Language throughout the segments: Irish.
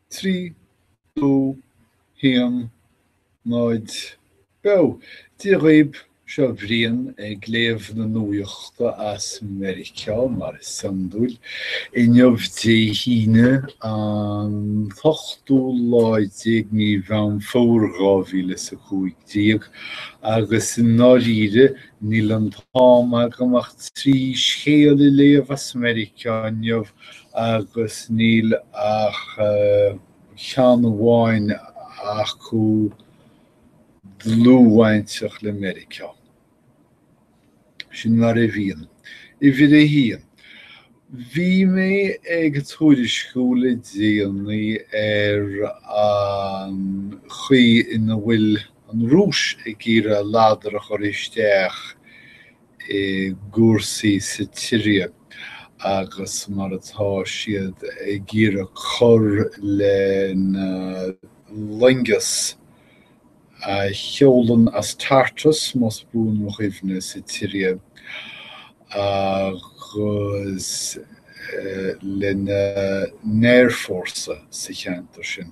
3, 2, 1, 0 Beo! Dia dhaoib, seo Brian ag léamh na nuaíochta as Meiriceá, mar is iondúil, inniu Dé hAoine, an t-ochtú lá déag mí Mheán Fómhair dhá mhíle a cúig déag, agus i ndáiríre, níl an t-am agam ach trí scéal a léamh as Meiriceá inniu, agus níl ach ceann amháin acu dlúthbhainteach le Meiriceá. Sin mar a bhíonn. Uimhir a haon, bhí mé ag tuairisciú le déanaí ar an chaoi ina bhfuil an Rúis ag iarraidh a ladar a chur isteach i gcúrsaí sa tSiria agus mar atá siad ag iarraidh cur lena loingeas a sheolann as Tartus, más buan mo chuimhne, sa tSiria agus lena n-aerfhórsa sa cheantar sin.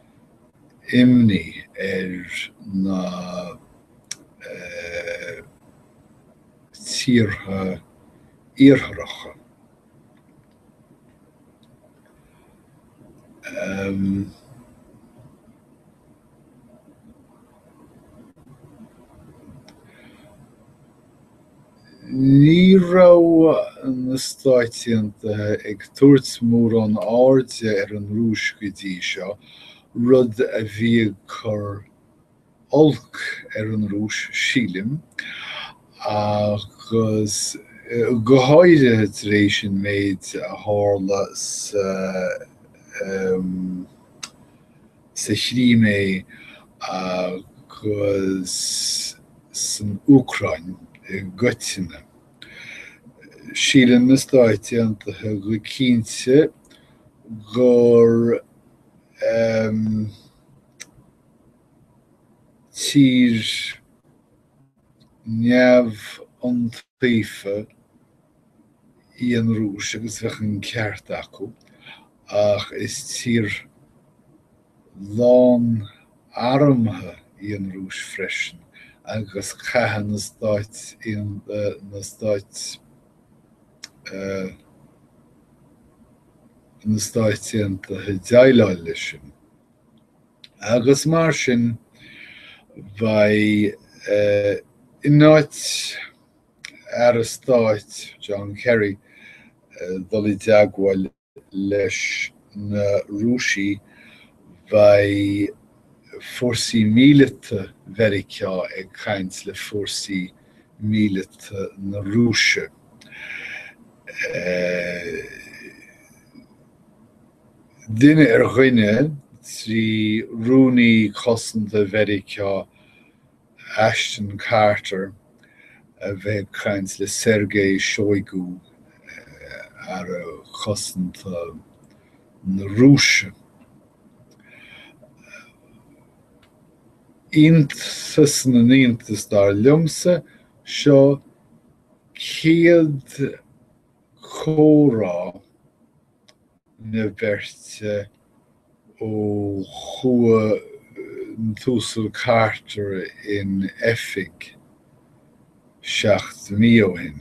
imní ar na tíortha iartharacha Ní raibh na Stáit Aontaithe ag tabhairt mórán airde ar an Rúis go dtí seo, rud a bhí ag cur oilc ar an Rúis, sílim, agus go háirithe tar éis an méid a tharla sa sa Chrimé agus san Úcráin i gcoitinne. Síleann na Stáit Aontaithe go cinnte gur tír. neamhiontaofa í an Rúis agus bheadh an ceart acu, ach is tír lán armtha í an Rúis freisin agus caithfidh na Stáit na Stáit na Stáit Aontaithe déileáil leis sin. agus mar sin beidh, in áit Aire Stáit John Kerry dul i dteagmháil leis na Rúisigh beidh fórsaí míleata Mheiriceá ag caint le fórsaí míleata na Rúise. Duine ar dhuine, trí Rúnaí Cosanta Mheiriceá Ashton Carter a bheith ag caint le Sergei Shoigu, Aire Cosanta na Rúise. Iontas na n-iontas, dar liomsa, seo chéad chomhrá na beirte ó chuaigh an tUasal Carter in oifig seacht mí ó shin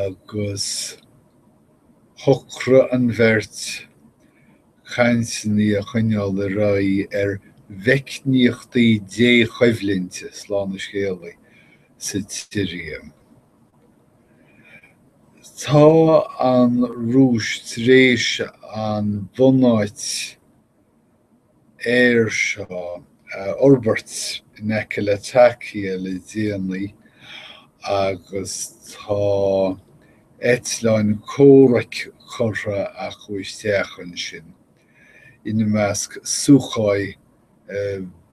agus shocraigh an bheirt cainteanna a choinneáil ar aghaidh ar mheicníochtaí dí-choimhlinte, slán an scéalaí, sa tSiria. Tá an Rúis tar éis an bunáit aeir seo a fhorbairt in aice Latakia le déanaí agus tá eitleáin comhraic curtha acu isteach ansin, ina measc Sukhoi 30.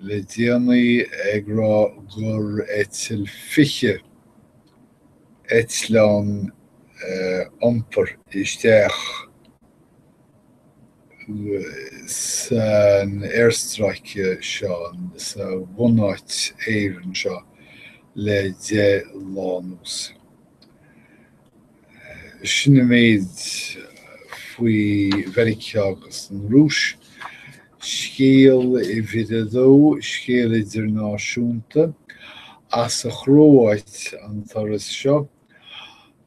le déanaí ag rá gur eitil 20 eitleán iompair isteach san aerstráice seo, sa bhunáit aeir seo, le deich lá anuas. Sin an méid faoi Mheiriceá agus an Rúis. Scéal uimhir a dó, scéal idirnáisiúnta. As an Chróáit an turas seo,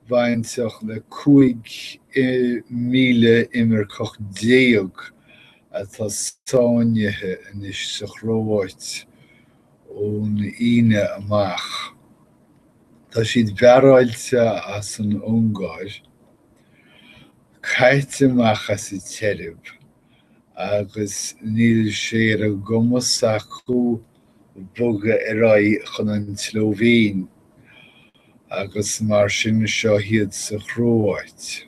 bainteach le 15,000 imirceach atá sáinnithe anois sa Chróáit ón Aoine amach. Tá siad bearáilte as an Ungáir, caite amach as an tSeirbia, agus níl sé ar a gcumas acu bogadh ar aghaidh chun an tSlóivéin, agus mar sin seo iad sa Chróáit.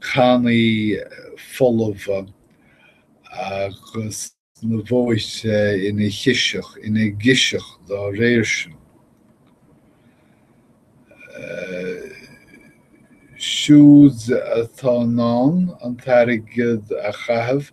cannaí folmha agus na bóithre ina chiseach, ina gciseach dá réir sin. Siúd atá in ann an t-airgead a chaitheamh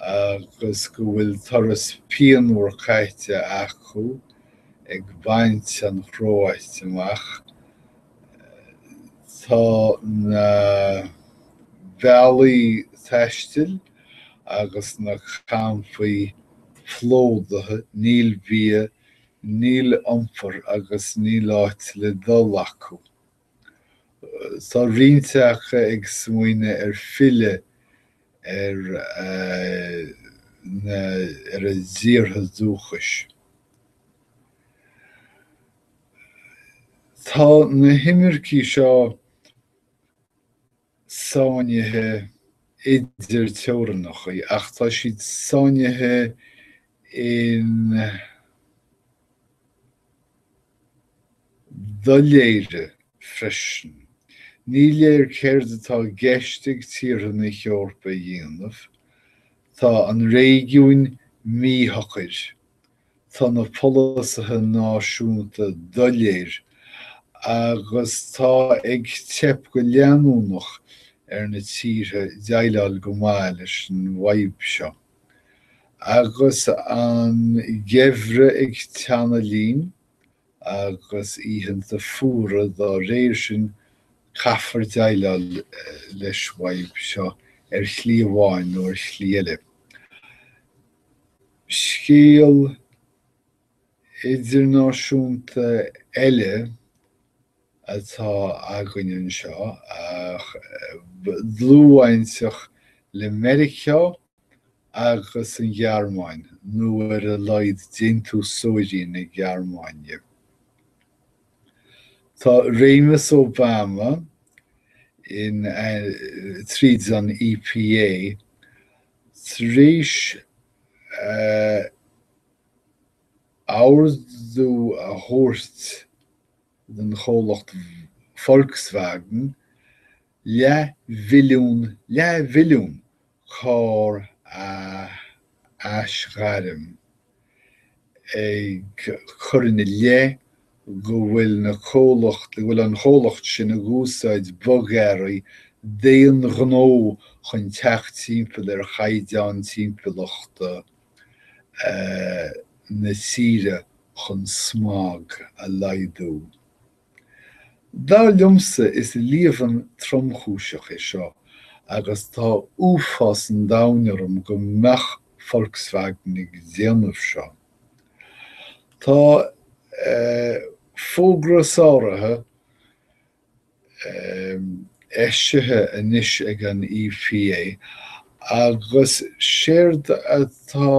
agus go bhfuil turas pianmhar caite acu ag baint an Chróit amach. Tá na bealaí taistil agus na campaí plódaithe, níl bia, níl iompar agus níl áit le dul acu. Tá roinnt acu ag smaoineamh ar filleadh ar na ar a dtíortha dúchais. Tá na himircí seo sáinnithe idir teorannachaí ach tá siad sáinnithe i ndoiléire freisin. Ní léir céard atá i gceist ag tíortha na hEorpa a dhéanamh, tá an réigiún míshocair Tá na polasaithe náisiúnta doiléir agus tá ag teip go leanúnach ar na tíortha déileáil go maith leis an bhfadhb seo. Agus an geimhreadh ag teannadh linn, agus oícheanta fuara dá réir sin, caithfear déileáil leis an bhfadhb seo ar shlí amháin nó ar shlí eile. Scéal idirnáisiúnta eile atá againn anseo, ach dlúthbhainteach le Meiriceá agus an Ghearmáin, nó ar a laghad déantúsóirí na Gearmáine. Tá réimeas Obama, tríd an EPA, tréis a ordú a thabhairt don chomhlacht Volkswagen leathmhilliún, leathmhilliún! carr a aisghairm ag cur ina leith go bhfuil na comhlacht, go bhfuil an comhlacht sin ag úsáid bogearraí d'aon ghnó chun teacht timpeall ar chaighdeán timpeallachta na tíre chun smog a laghdú. Dar liomsa is líomhain tromchúiseach é seo agus tá uafás an domhain orm go mbeadh Volkswagen ag déanamh seo. Tá fógra sáraithe eisithe anois ag an EPA agus séard atá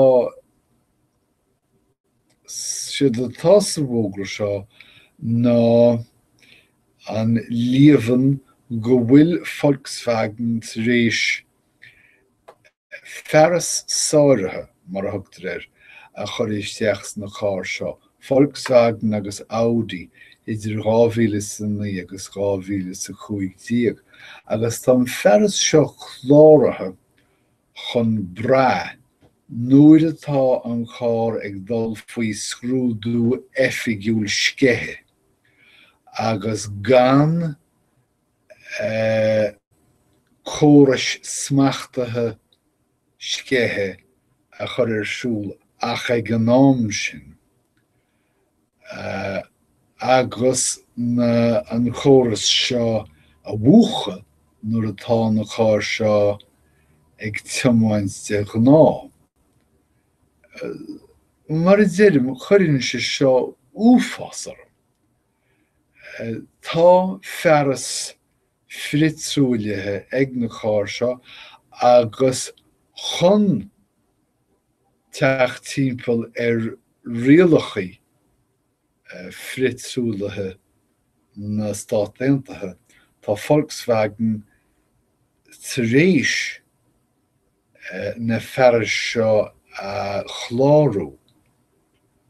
séard atá sa bhfógra seo ná an líomhain go bhfuil Volkswagen tar éis fearas sáraithe, mar a thugtar air, a chur isteach sna cairr seo, Volkswagen agus Audi, idir 2009 agus 2015, agus tá an fearas seo cláraithe chun brath, nuair atá an carr ag dul faoi scrúdú oifigiúil sceiche, agus gan eh córais smachtaithe sceiche a chur ar siúl ach ag an am sin, agus na an córas seo a mhúchadh nuair atá na cairr seo ag tiomáint de ghnáth. Mar a deirim, cuireann sé seo uafás orm. Tá fearas frithtruaillithe ag na cairr seo agus chun teacht timpeall ar rialacha frithtruaillithe na Stát Aontaithe, tá Volkswagen tar éis na fearais seo a chlárú.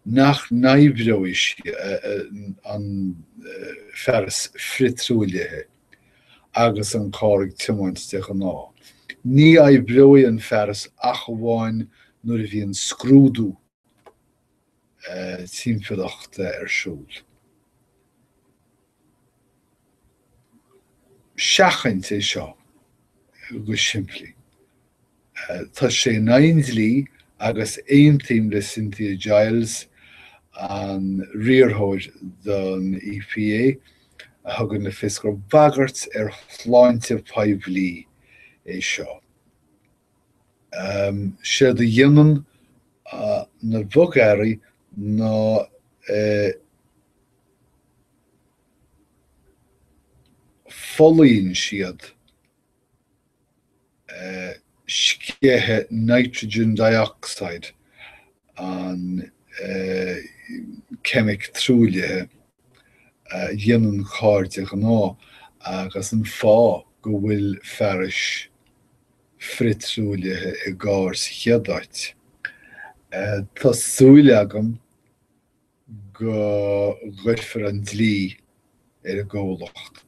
nach n-oibreoidh an fearas frithtruaillithe agus an carr ag tiomáint de ghnáth. Ní oibreoidh an fearas ach amháin nuair a bhíonn scrúdú timpeallachta ar siúl. Seachaint é seo go simplí. Tá sé in aghaidh an dlí agus aontaím le Cynthia Giles, an riarthóir don EPA, a thugann le fios gur bagairt ar shláinte an phobail é seo. Séard a dhéanann na bogearraí ná folaíonn siad sceitheadh nitrogen dioxide, an ceimic truaillithe a dhéanann carr de ghnáth, agus an fáth go bhfuil fearais frithtruaillithe i gcarr sa chéad áit. Tá súil agam go gcuirfear an dlí ar an gcomhlacht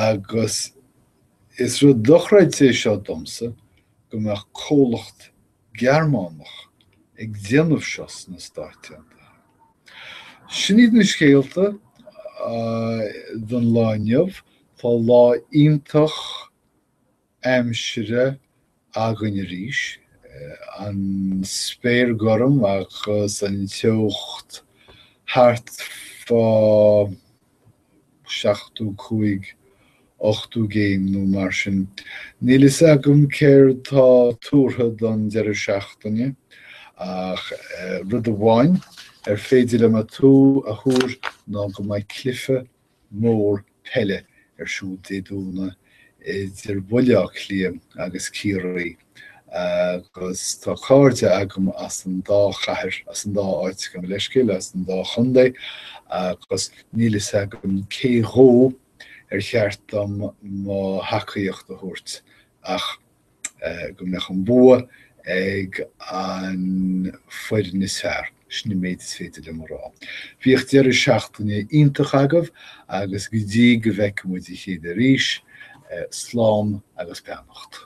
agus is rud dochreidte é seo domsa go mbeadh comhlacht Gearmánach ag déanamh seo sna Stáit Aontaithe. Sin iad na scéalta don lá inniu. Tá lá iontach. aimsire againn arís, an spéir gorm agus an teocht thart fá seachtó cúig, ochtó céim nó mar sin. Níl a fhios agam céard tá tuartha don deireadh seachtaine ach rud amháin ar féidir liom a tú a thuar ná go mbeidh cluiche mór peile ar siúl Dé Domhnaigh idir Bhaile Átha Cliath agus Ciarraí agus tá cairde agam as an dá chathair, as an dá áit, gabh mo leithscéal, as an dá chontae agus níl a fhios agam cé dhó ar cheart dom mo thacaíocht a thabhairt ach go mbeadh an bua ag an foireann is fearr, sin an méid is féidir liom a rá. Bíodh deireadh seachtaine iontach agaibh agus go dtí go bhfeicfidh muid a chéile arís, slán agus beannacht.